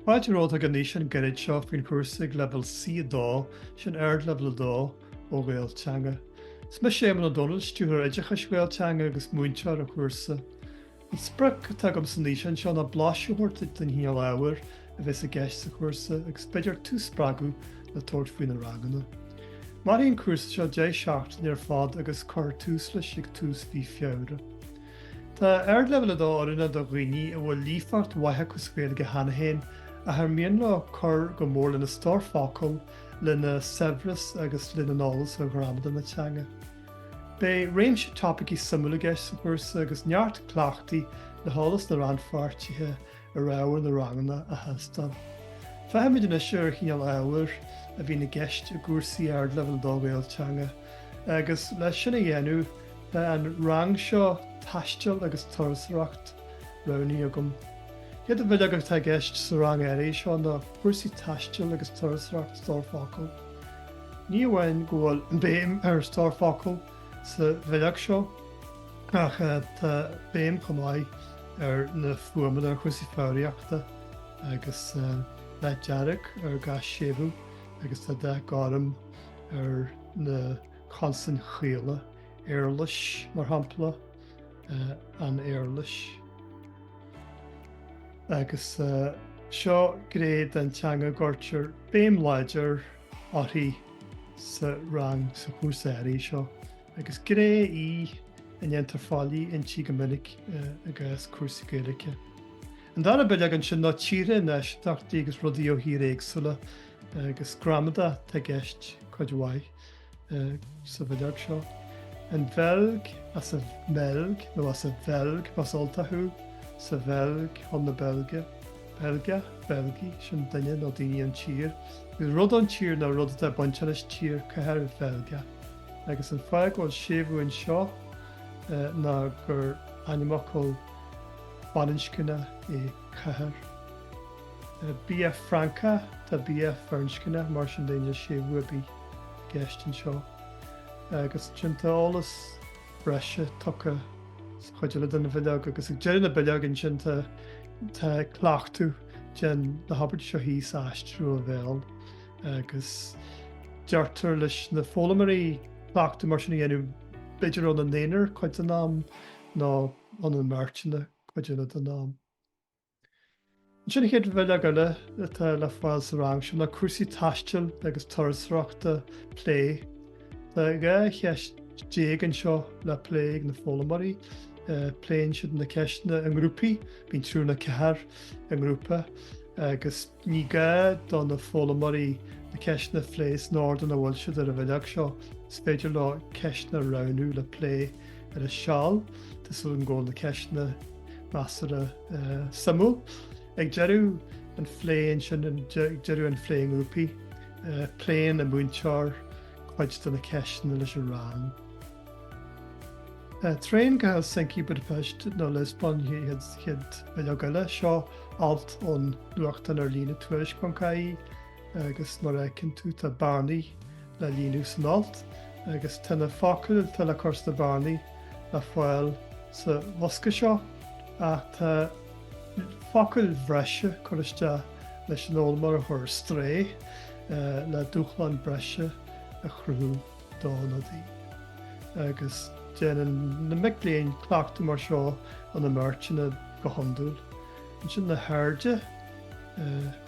Tá fáilte romhat ag an fhíseán gairid seo faoin chúrsa ag leibhéal C2, sin Ardleibhéal 2, ó Ghael Teanga. Is mise Éamonn Ó Dónaill, Stiúrthóir Oideachais Ghael Teanga agus múinteoir an chúrsa. An sprioc atá agam san fhíseán seo ná blaiseadh a thabhairt duit den chineál ábhair a bheas i gceist sa chúrsa agus b'fhéidir tú spreagadh le tabhairt faoi na ranganna. Mairfidh an cúrsa seo deich seachtaine ar fad agus cuirfear tús leis ag tús mhí Feabhra. Tá Ardleibhéal 2 oiriúnach do dhaoine a bhfuil líofacht mhaith acu sa Ghaeilge cheana féin ach ar mian leo cur go mór lena stór focal, lena saibhreas agus lena n-eolas ar ghramadar na teanga. Beidh réimse topaicí suimiúla i gceist sa chúrsa agus neart cleachtaí le heolas na rannpháirtithe ar ábhar na ranganna a thástáil. Féachaimis anois ar an chineál ábhair a bhíonn i gceist i gcúrsaí Ardleibhéal 2 Ghael Teanga agus, leis sin a dhéanamh, tá an rang seo, Taisteal agus Turasóireacht, roghnaithe agam. An chéad bhileog atá i gceist sa rang áirithe seo ná cúrsaí taistil agus turasóireacht Stór Focal Ní amháin go bhfuil béim ar Stór Focal, Sa bhileog seo, ach tá béim chomh maith ar na fuaimeanna, ar chúrsaí foghraíochta agus tá dath dearg ar gach séimhiú agus tá dath gorm ar na consain chaola, éarlais, mar shampla, an éarlais. Agus seo gné den teanga a gcuirtear béim láidir uirthi sa rang sa chúrsa áirithe seo, agus gné í a ndéantar faillí inti go minic i gcás cúrsaí Gaeilge. An dara bileog ansin ná tíortha, náisiúntachtaí agus rudaí ó thíortha éagsúla, agus gramadach atá i gceist cuid mhaith. sa bhileog seo. An Bheilg, as an mBeilg nó as an Bheilg más Ultach thú, sa Bheilg, chun na Beilge, Beilgeach, Beilgigh, sin duine nó daoine ón tír, agus rud ón tír nó rud atá ag baint leis an tír cathair Bheilgeach, agus an fáth go bhfuil séimhiú anseo ná gur ainmfhocal baininscneach é cathair. Bia Francach, tá bia firinscneach, mar sin níl aon séimhiú ar bith. gceist anseo, agus roinnt eolas breise tugtha sa chuid eile den bhileog, agus ag deireadh na bileoige ansin, tá cleachtadh, déan na habairtí seo thíos a aistriú ó bhéal, agus deirtear leis na foghlaimeoirí cleachtadh mar sin a dhéanamh b'fhéidir ina n-aonar cuid den am nó ina mbeirteanna cuid eile den am. Ansin chéad bhileog eile atá le fáil sa rang seo ná cúrsaí taistil agus turasóireachta plé. Tá 12 cheist anseo le plé ag na foghlaimeoirí. Pléann siad na ceisteanna i ngrúpaí, bíonn triúr nó ceathrar i ngrúpa agus. Ní gá do na foghlaimoirí na ceisteanna a phlé san ord ina bhfuil siad ar an bhileog seo. Is féidir leo ceisteanna a roghnú le plé ar a seal, tá súil agam go bhfuil na ceisteanna measartha suimiúil. Ag deireadh an phlé ansin, ag deireadh an phlé i ngrúpaí, pléann an múinteoir cuid de na ceisteanna leis an rang. Traein go Helsinki, Budapest nó Liospóin chéad bhileog eile. Seo alt ón nuachtán ar líne tuairisc.ie agus mar a tchíonn tú tá bearnaí le líonadh san alt agus tá na focail atá le cur sna bearnaí le fáil sa bhosca seo ach tá focail bhreise curtha isteach leis an fhoghlaimeoir a chur ar strae le dúshlán breise a chruthú. dó nó di, agus déanann na mic léinn cleachtadh mar seo ina mbeirteanna go hiondúil, ansin na hairde,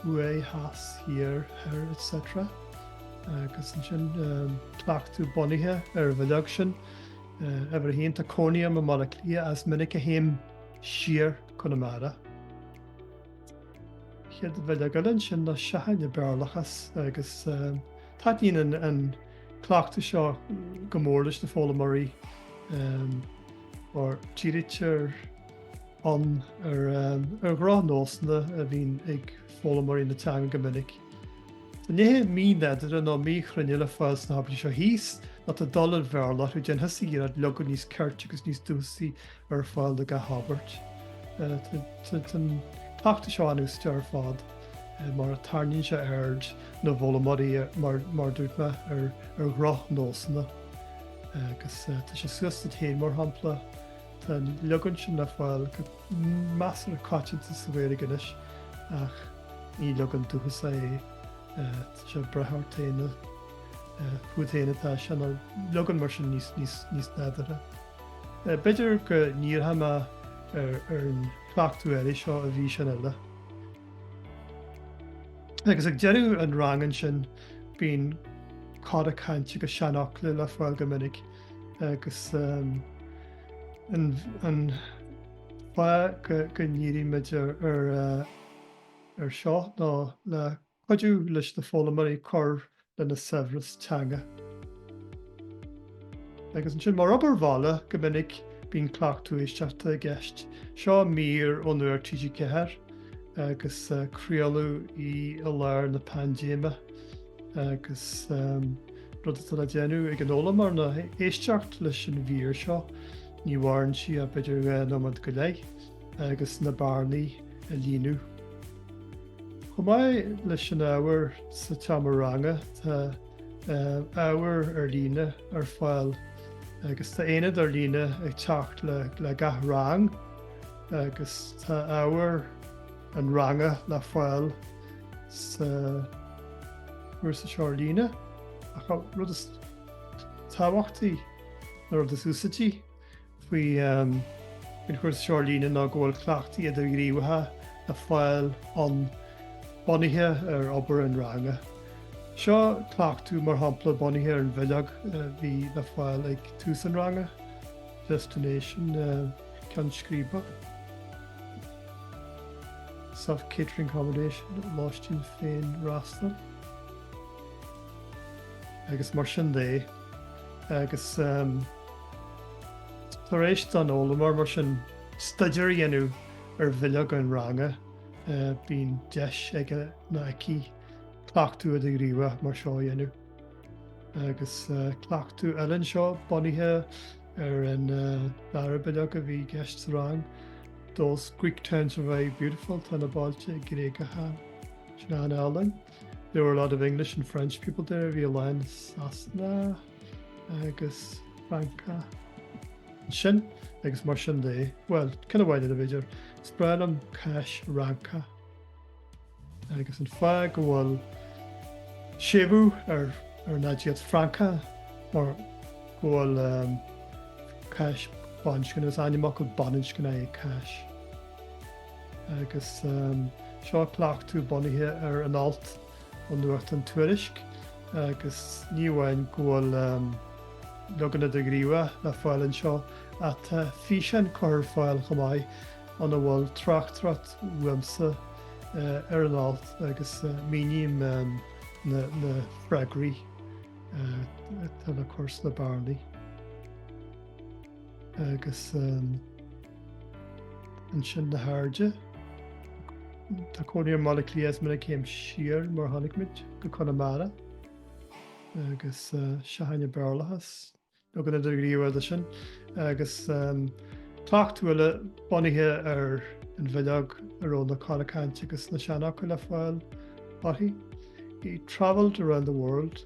thuaidh, theas, thiar, thoir, etc. Agus ansin cleachtadh bunaithe ar an bhileog sin, uimhir a haon, tá cónaí orm i mBaile Átha Cliath is minic a théim siar go Conamara. Chéad bhileog eile ansin ná Seachain an Béarlachas agus taitníonn an cleachtadh seo go mór leis na foghlaimeoirí mar dírítear ann ar dhrochnósanna a bhíonn ag foghlaimeoirí na teanga go minic. Tá nithe mínádúrtha nó míchruinne le fáil sna habairtí seo thíos, nó tá dul an Bhéarla orthu, déan thusa iarraidh leagan níos ceirte agus níos dúchasaí ar fáil do gach abairt. Tá an cleachtadh seo an-úsáideach ar fad mar a tarraingíonn sé aird na bhfoghlaimeoirí, mar a dúirt mé, ar dhrochnósanna. Agus tá sé suas duit féin, mar shampla, Tá an leagan sin le fáil go measartha coitianta sa Ghaeilge anois ach ní leagan dúchasach é. Tá sé ag brath ort féin, fút féin atá sé, nó leagan mar sin níos nádúrtha. B'fhéidir go ndíreoidh mé ar an chleachtadh eile seo i bhfíseán eile. Agus ag deireadh an ranga ansin bíonn cora cainte agus seanfhocla le fáil go minic agus um, an fáth go ndírímid ar uh, ar seo ná le Cuidiú leis na foghlaimoirí cur lena saibhreas teanga. Agus ansin, mar obair bhaile, go minic bíonn cleachtadh éisteachta i gceist. Seo mír ó Nuacht TG4 agus craoladh í i lár na paindéime agus rud atá le déanamh ag an fhoghlaimeoir ná éisteacht leis an mhír seo. Ní mhaireann sí ach b'fhéidir dhá nóiméad go leith agus na bearnaí a líonadh. Chomh maith leis an ábhar sa tseomra ranga, tá ábhar ar líne ar fáil agus tá aonad ar líne ag teacht le gach rang agus tá ábhar an ranga le fáil sa chúrsa ar líne. Rud is tábhachtaí nó rud is úsaidtí. faoi an chúrsa ar líne ná go bhfuil cleachtaí idirghníomhacha le fáil ann bunaithe ar obair an ranga. Seo cleachtadh mar shampla bunaithe ar an bhileog a bhí le fáil ag tús an ranga, Destination ceann scríbe. Self-catering accommodation, lóistín féinfhreastail. Agus mar sin de. Agus Tar éis don fhoghlaimeoir, mar sin, staidéar a dhéanamh ar bhileog an ranga, bíonn deis aige nó aici cleachtadh idirghníomhach mar seo a dhéanamh. Agus cleachtadh eile anseo bunaithe ar an dara bileog a bhí i gceist sa rang, Those Greek towns are very beautiful, tá na bailte Gréagacha sin an-álainn. There were a lot of English and French people there, bhí a lán Sasanach, agus Francach ansin agus mar sin de, bhuel, ceann amháin eile b'fhéidir, is breá liom cáis Fhrancach agus an fáth go bhfuil séimhiú ar an aidiacht Francach mar go bhfuil cáis baininscneach, is ainmfhocal baininscneach é cáis. Agus seo cleachtadh bunaithe ar an alt. ón nuachtán Tuairisc agus ní amháin go bhfuil leagan idirghníomhach le fáil anseo ach tá físeán curtha ar fáil chomh maith ina bhfuil tráchtaireacht uaimse ar an alt agus míním na freagraí atá le cur sna bearnaí. agus ansin na hairde. Tá cónaí orm i mBaile Átha Cliath muna céim siar mar tháinig muid go Conamara agus seachain Béarlachas leagan idirghníomhach de sin agus cleachtadh eile bunaithe ar an bhileog a raibh na cora cainte agus na seanfhocail le fáil uirthi. He travelled around the world.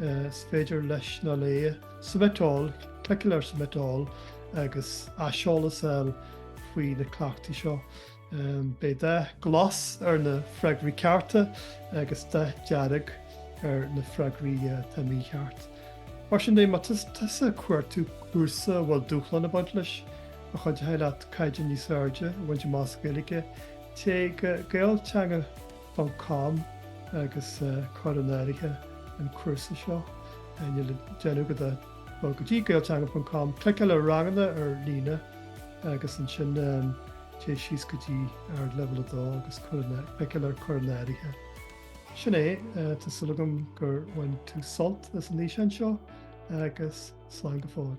is féidir leis nó léi submiteáil, cliceáil ar submiteáil agus aiseolas a fháil faoi na cleachtaí seo. Beidh dath glas ar na freagraí cearta agus dath dearg ar na freagraí atá mícheart. Mar sin de, má tá tusa ag cuartú cúrsa a bhfuil dúshlán ag baint leis, a chuideoidh leat caighdeán níos airde a bhaint amach sa Ghaeilge, téigh go gaelteanga. ponc com agus cuir in áirithe an cúrsa seo. Níl le déanamh agat ach dul go dtí gaelteanga ponc com, cliceáil ar ranganna ar líne agus ansin téigh síos go dtí Ardleibhéal 2 agus cliceáil ar Cuir in Áirithe. Sin é, tá súil agam gur bhain tú sult as an fhíseán seo agus slán go fóill.